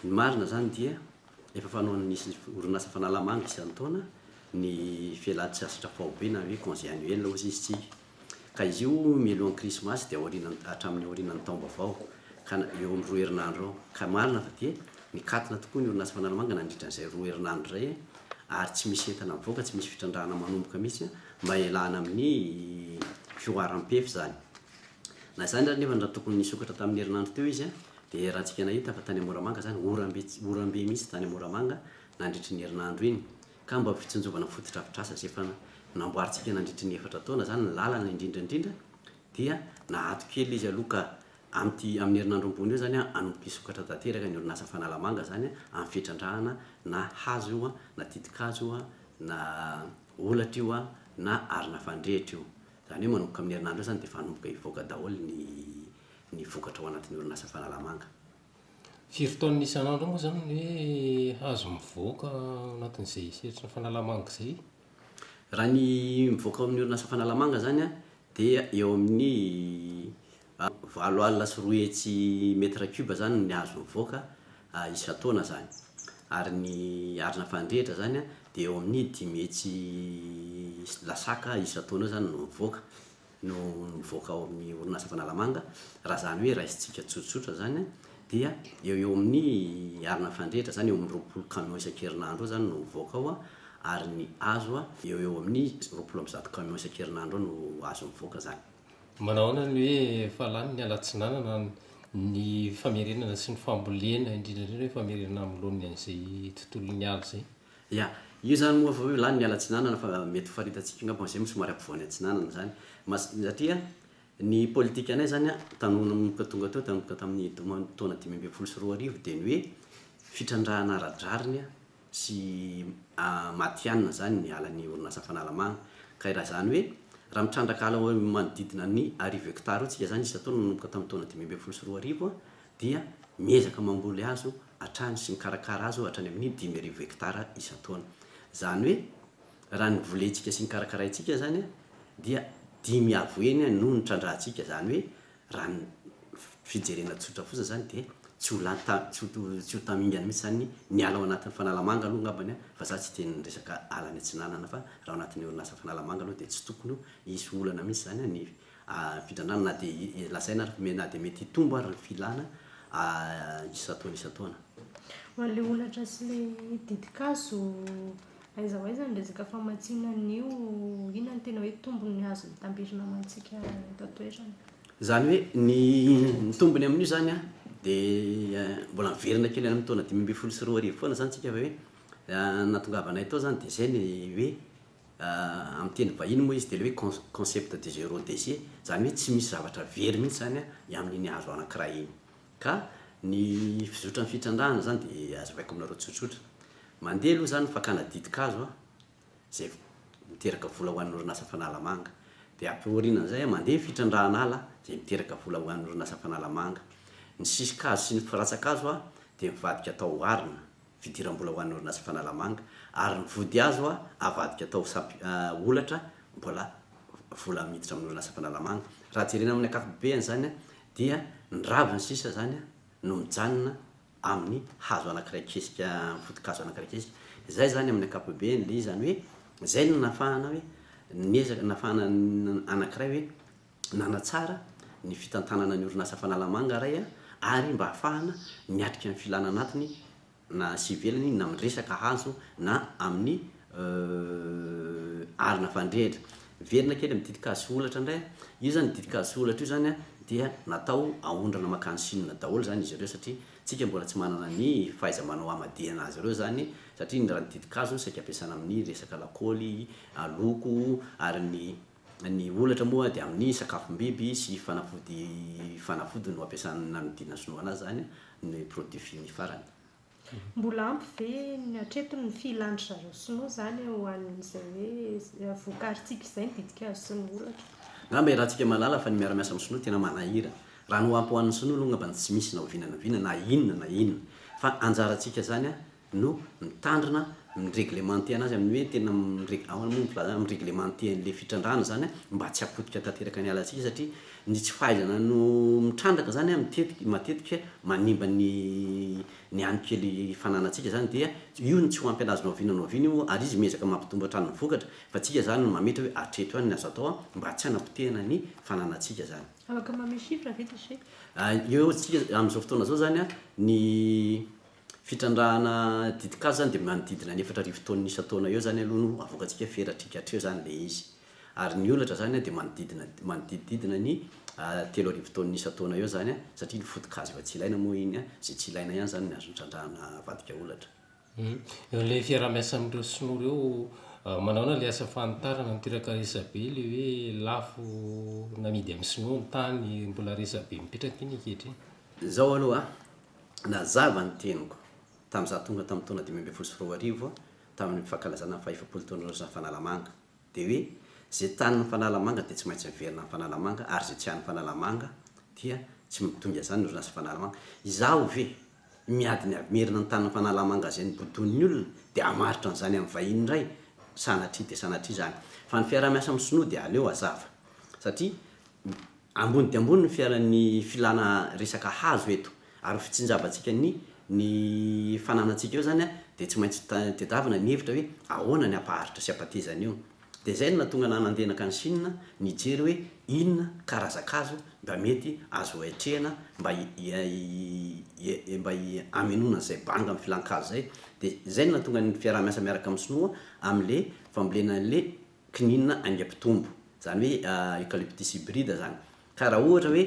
Ny marina izany dia efa fanaon'ny orinasa Fanalamanga isan-taona ny fialan-tsasatra faobe na hoe congé annuel hozy istsika. Ka izy io mialohan'ny krismasy dia aoriana hatramin'ny aorianan'ny taom-baovao ka eo amin'ny roa herinandro eo. Ka marina fa dia mikatona tokoa ny orinasa Fanalamanga nandritra an'izay roa herinandro izay ary tsy misy entana mivoaka, tsy misy fitrandrahana manomboka mihitsy mba hialana amin'ny fihoaram-pefy izany. Na izany ary nefa raha tokony nisokatra tamin'ny herinandro teo izy dia ratsika nahita fa tany a Moramanga izany orambe orambe mihitsy tany a Moramanga nandritry ny herinandro iny ka mba ho fitsinjovana ny fotodrafitrasa izay efa namboarintsika nandritry ny efatra taona izany ny lalana indrindra indrindra dia naato kely izy aloha ka amin'ity amin'ny herinandro ambony eo izany hanomboka hisokatra tanteraka ny orinasa Fanalamanga izany amin'ny fitrandrahana na hazo io na titikazo io na holatra io na arina fandrehitra io Izany hoe manomboka amin'ny herinandro eo izany dia efa hanomboka hivoaka daholo ny ny vokatra ao anatin'ny orinasa Fanalamanga. Firy taonina isan'andro moa izany no hoe azo mivoaka ao anatin'izay sehatry ny Fanalamanga izay? Raha ny mivoaka ao amin'ny orinasa Fanalamanga izany an, dia eo amin'ny Valo alina sy roa hetsy mètre cube zany ny azo mivoaka isan-taona zany. Ary ny arina fandrehitra zany dia eo amin'ny dimy hetsy lasaka isan-taona eo zany no mivoaka, no mivoaka ao amin'ny orinasa Fanalamanga. Raha zany hoe raisintsika tsotsotra zany dia eo eo amin'ny arina fandrehitra zany eo amin'ny roapolo camion isan-kerinandro eo zany no mivoaka ao ary ny hazo eo eo amin'ny roapolo amby zato camion isan-kerinandro eo no azo mivoaka zany. Manao ahoana ny hoe efa lany ny alatsinanana ny famerenana sy ny fambolena indrindra indrindra hoe famerenana amin'ny laoniny an'izay tontolon'ny ala izay? Ya, io izany moa efa hoe lany ny alatsinanana fa mety ho faritantsika angamba izay moa somary ampovoany atsinanana izany mas- satria ny politikanay izany an, tany nanomboka tonga teo tanomboka tamin'ny taona dimy ambin'ny folo sy roa arivo dia ny hoe fitrandrahana ara-drariny an, sy matihanina zany ny ala ny orinasa Fanalamanga ka raha zany hoe raha mitrandraka ala eo manodidina ny arivo hectare eo tsika zany isan-taona nanomboka tamin'ny taona dimy ambin'ny folo sy roa arivo dia miezaka mamboly azo hatrany sy mikarakara azo hatrany amin'ny dimy arivo hectare isan-taona zany hoe raha ny volentsika sy ny karakaraintsika zany dia dimy avo heny no nitrandrahantsika zany hoe Raha ny fijerena tsotra fotsiny izany dia tsy ho lany ta, tsy ho, tsy ho tamingana mihitsy izany ny miala ao anatin'ny Fanalamanga aloha angambany an, fa za tsy dia ny resaka ala any atsinanana fa raha ao anatin'ny orinasa Fanalamanga aloha dia tsy tokony ho hisy olana mihitsy izany an ny fidrandrana na dia lazaina ary fa na dia mety hitombo ary ny filana isan-taona isan-taona. Ho an'ilay holatra sy ilay ditin-kazo Aiza ho aiza ny resaka famatsiana an'io? Inona no tena hoe tombony azon'ny tambirina amantsika eto an-toerana? Izany hoe ny ny tombony amin'io izany an, dia mbola miverina kely any amin'ny taona dimy ambin'ny folo sy roa arivo foana izany isika fa hoe nahatongavanay tao izany dia izay ny hoe amin'ny teny vahiny moa izy dia ilay hoe con- concept de zero déchet, izany hoe tsy misy zavatra very mihitsy izany an ny amin'iny hazo anankiray iny. Ka ny fizotran'ny fitrandrahana izany dia hazavaiko aminareo tsotsotra. Mandeha aloha izany ny fakana ditin-kazo izay miteraka vola ho an'ny orinasa Fanalamanga. Dia aty aorianan'izay mandeha ny fitrandrahana ala izay miteraka vola ho an'ny orinasa Fanalamanga. Ny sisin-kazo sy ny firatsan-kazo dia mivadika atao arina. fidiram-bola ho an'ny orinasa Fanalamanga ary ny vody azo avadika atao olatra mbola vola miditra amin'ny orinasa Fanalamanga. Raha jerena amin'ny ankapobeany izany dia ny raviny sisa izany no mijanona amin'ny hazo anankiray kesika, amin'ny foto-kazo anankiray kesika. Izay izany amin'ny ankapobeany le izany hoe izay no nafahana hoe niezaka nafahana anankiray hoe. nanatsara ny fitantanana ny orinasa Fanalamanga iray ary mba hahafahana miatrika ny filana anatiny na sy ivelany na amin'ny resaka hazo na amin'ny arina fandrehitra. Miverina kely amin'ny ditin-kazo sy holatra indray aho, io izany ditin-kazo sy holatra io izany dia natao haondrana mankany Chine daholo izany izy ireo satria isika mbola tsy manana ny fahaiza-manao hamadihana azy ireo izany satria ny raha ny ditin-kazo no saika ampiasana amin'ny resaka lakaoly, loko ary ny Ny holatra moa dia amin'ny sakafom-biby sy fanafody fanafody no ampiasana nanodinana sinoana azy izany ny produit fini farany. Mbola ampy ve ny hatreto ny filan-dry zareo sinoa izany ho an'izay hoe vokarintsika izay ny ditin-kazo sy ny holatra? Angamba iarahantsika mahalala fa ny miara-miasa amin'ny sinoa tena manahirana. Raha ny ho ampy ho an'ny sinoa aloha angambany tsy misy na oviana na oviana na inona na inona. Fa anjarantsika izany no mitandrina mi-reglementer-na azy amin'ny hoe tena mi-reg-, ahoana moa ny filazana, mi-reglementer an'ilay fitrandrahana izany an, mba tsy hapotika tanteraka ny alantsika satria ny tsy fahaizana no mitrandraka izany an, mitetika, matetika manimba ny ny any kely fananantsika izany dia io no tsy ho ampy an'azy nohaviana nohaviana io ary izy miezaka mampitombo hatrany ny vokatra fa tsika izany no mametra hoe hatreto ihany ny azo atao an, mba tsy hanapotehana ny fananantsika izany. Afaka manome chiffre ve Déchet? Eo amintsika amin'izao fotoana izao izany an, ny Fitrandrahana ditin-kazo zany dia manodidina ny efatra arivo taonina isan-taona eo zany aloha no avoakantsika feradriaka hatreo zany le izy. Ary ny olatra zany dia manodidina manodidididina ny telo arivo taonina isan-taona eo zany satria ny foto-kazo efa tsy ilaina moa iny izay tsy ilaina ihany zany no azo nitrandrahana avadika olatra. Eo le fiaraha-miasa amin'ireo sinoa ireo manaona le asa fanitarana mitiraka resabe le hoe lafo namidy amin'ny sinoa ny tany mbola resabe mipetraka iny ankehitriny. Zao aloha Nazava ny teniko tamin'ny izaho tonga tamin'ny taona dimy ambin'ny folo sy roa arivo tamin'ny fankalazana ny fahefapolo taon'Aotra ny Fanalamanga dia hoe izay tanin'ny Fanalamanga dia tsy maintsy miverina ny Fanalamanga ary izay tsy an'ny Fanalamanga dia tsy midongy azany ny orinasa Fanalamanga. Izaho ve miady ny avy merina ny tanin'ny Fanalamanga izay nobodoin'ny olona dia hamaritra an'izany amin'ny vahiny indray? Sanatria dia sanatria izany. Fa ny fiaraha-miasa amin'ny sinoa dia aleo hazava satria Ambony dia ambony ny fiaran'ny filana resaka hazo eto ary fitsinjavantsika ny ny fananantsika eo izany dia tsy maintsy tadiavina ny hevitra hoe ahoana ny hampaharitra sy hampateza an'io. Dia izay no nahatonga anah nandehanaka any Chine nijery hoe inona karazan-kazo mba mety azo atrehina mba mba hamenoana an'izay banga amin'ny filan-kazo izay. Dia izay no nahatonga ny fiaraha-miasa miaraka amin'ny sinoa amin'ilay fambolena an'ilay kininina aingam-pitombo, izany hoe Eucalyptus hybride izany. Ka raha ohatra hoe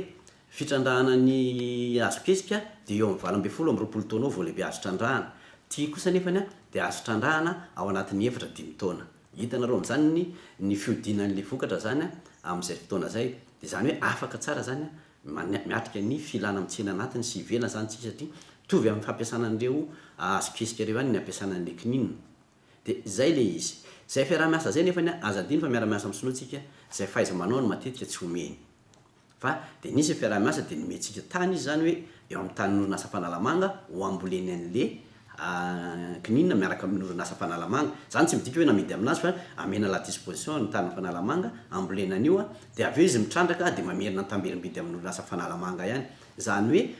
fitrandrahana ny hazok'espika dia eo amin'ny valo ambin'ny folo amin'ny roapolo taona eo vao lehibe azo trandrahana. Ity kosa anefany dia azo trandrahana ao anatin'ny efatra dimy taona. Hitanareo amin'izany ny fihodinan'ilay vokatra izany amin'izay fotoana izay. Dia izany hoe afaka tsara izany ny miatrika ny filana amin'ny tsena anatiny sy ivelany izany isika satria mitovy amin'ny fampiasana an'ireo hazok'espika ireo ihany ny hampiasana an'ilay kininina. De zay le izy. Zay fiaraha-miasa zay nefany an, aza adino fa miara-miasa amin'ny sinoa tsika, zay fahaiza-manao no matetika tsy omeny. Fa de nisy ny fiaraha-miasa de nomentsika tany izy zany hoe eo amin'ny tanin'ny orinasa Fanalamanga ho amboleny an'le kininina miaraka amin'ny orinasa Fanalamanga. Zany tsy midika hoe namidy aminazy fa amena à la disposition ny tanin'i Fanalamanga ambolena an'io an, de avy eo izy mitrandraka de mamerina an-tamberim-bidy amin'ny orinasa Fanalamanga ihany. Zany hoe.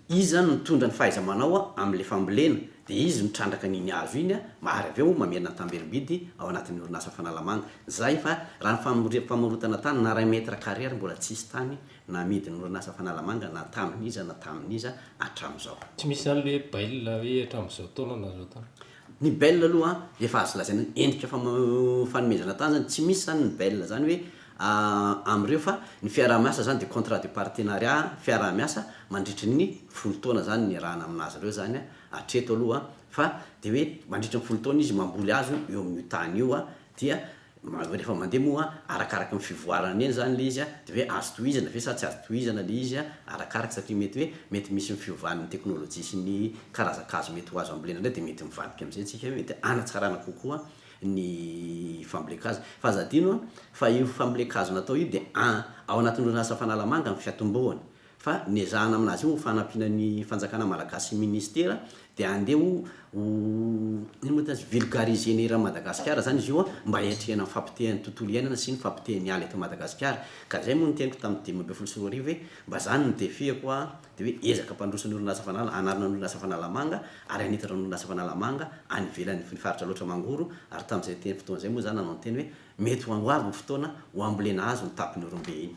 Iza no nitondra ny fahaiza-manao amin'ilay fambolena dia izy no trandraka an'iny hazo iny ary avy eo mamerina an-tamberim-bidy ao anatin'ny orinasa Fanalamanga. Zay fa raha ny famorotana tany na ray mètre carré ary mbola tsisy tany na amidin'ny orinasa Fanalamanga na tamin'iza na tamin'iza hatramin'izao. Tsy misy anle bail hoe hatramin'izao taona na zao taona. Ny bel aloha efa azo lazaina hoe endrika fanomezana tany zany, tsy misy zany ny bel zany hoe amin'ireo fa ny fiaraha-miasa zany dia contrat de partenariat, fiaraha-miasa mandritry ny folo taona zany no iarahana amin'azy ireo zany hatreto aloha fa dia hoe mandritry ny folo taona izy mamboly hazo eo amin'io tany io dia Hoe rehefa mandeha moa arakaraka ny fivoarany eny izany ilay izy an, dia hoe azo tohizana ve sa tsy azo tohizana ilay izy an, arakaraka satria mety hoe mety misy ny fiovan'ny teknolojia sy ny karazan-kazo mety ho azo ambolena indray dia mety mivadika amin'izay isika hoe mety hanatsarana kokoa ny fambolen-kazo. Fa aza adino an, fa io fambolen-kazo natao io dia an, ao anatin'ny orinasa Fanalamanga ny fiatombohany, fa ny ezahana amin'azy io ho fanampiana ny fanjakana malagasy sy ministera dia handeha ho ho inona moa tena vulgariser ny hiran'i Madagasikara izany izy io mba hiatrehana ny fahapotehan'ny tontolo iainana sy ny fahapotehan'ny ala eto Madagasikara ka izay moa no teniko tamin'ny dimy ambin'ny folo sy roa arivo hoe mba izany no defi-ako a dia hoe ezaka hampandroso ny orinasa fanala hanarina ny orinasa fanalamanga ary hanitatra ny orinasa fanalamanga any ivelany ny faritra loatra mangoro ary tamin'izay teny fotoana izay moa izaho nanao ny teny hoe mety ho avy ny fotoana ho ambolena azy ny tapon'irombe iny